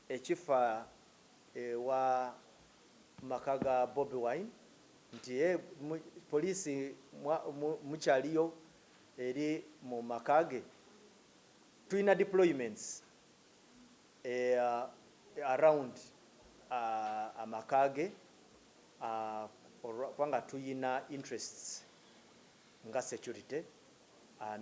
ekifa ewa maka ga Bobi wine nti police mukyaliyo eri mu maka ge tulina deployments around amaka ge kubanga tulina interests nga security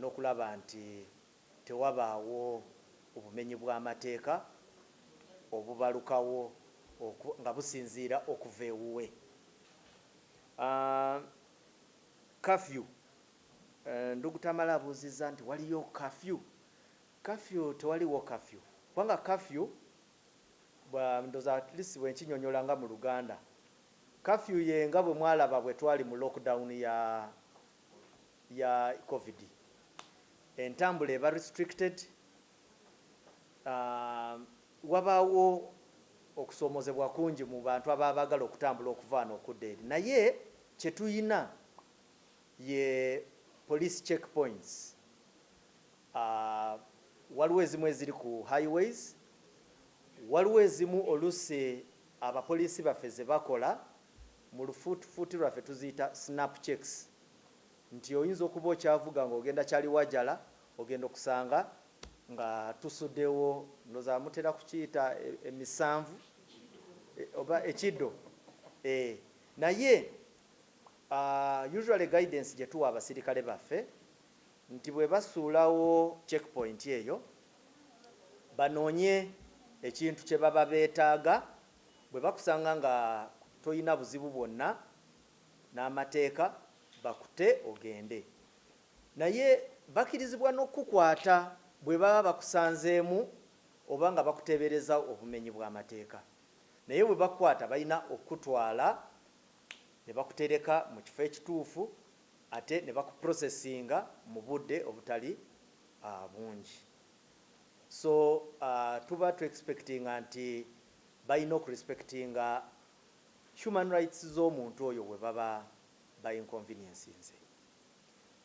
nokulaba nti tewabaawo bumenyi bw'amateeka obubalukawo nga businziira okuva ewuwe, Kafyu, Ndugu Tamale abuuzizza nti, waliyo kafyu? Kafyu, Tewaliwo kafyu kubanga kafyu ndowooza at least bwe nkinyonyola nga mu Luganda, kafyu ye nga bwe mwalaba bwe twali mu lockdown ya. ya covid entambula eba restricted wabawo okusomozebwa kungi mu bantu aba bagala okutambula okuvaano okudda eri naye kyetuyina ye police check points waliwo ezimu eziri ku highways waliwo ezimu olusi abapolisi baffe zebakola Mu lufuutifuuti lwaffe tuziyita Snap Checks nti oyinza okuba okyavuga ng'ogenda Kyaliwajjala ogenda okusanga nga tusudewo ndoza mutera kukiyita emisanvu oba ekido eh, naye uh, usually guidance gye tuwa abasirikale baffe nti bwe basuulawo checkpoint eyo banoonye ekintu kye baba beetaaga Bwe bakusanga nga tolina buzibu bwonna n'amateeka bakute ogende naye bakirizibwa n'okukukwata bwe baba bakusanzeemu oba nga bakuteebereza obumenyi bw'amateeka naye bwe bakukwata balina okukutwala ne bakutereka mu kifo ekituufu ate ne bakuprosesinga mu budde obutali bungi. So tuba tu expectinga nti bayina oku respectinga human rights zomuntu oyo webaba ba inconveniencinze.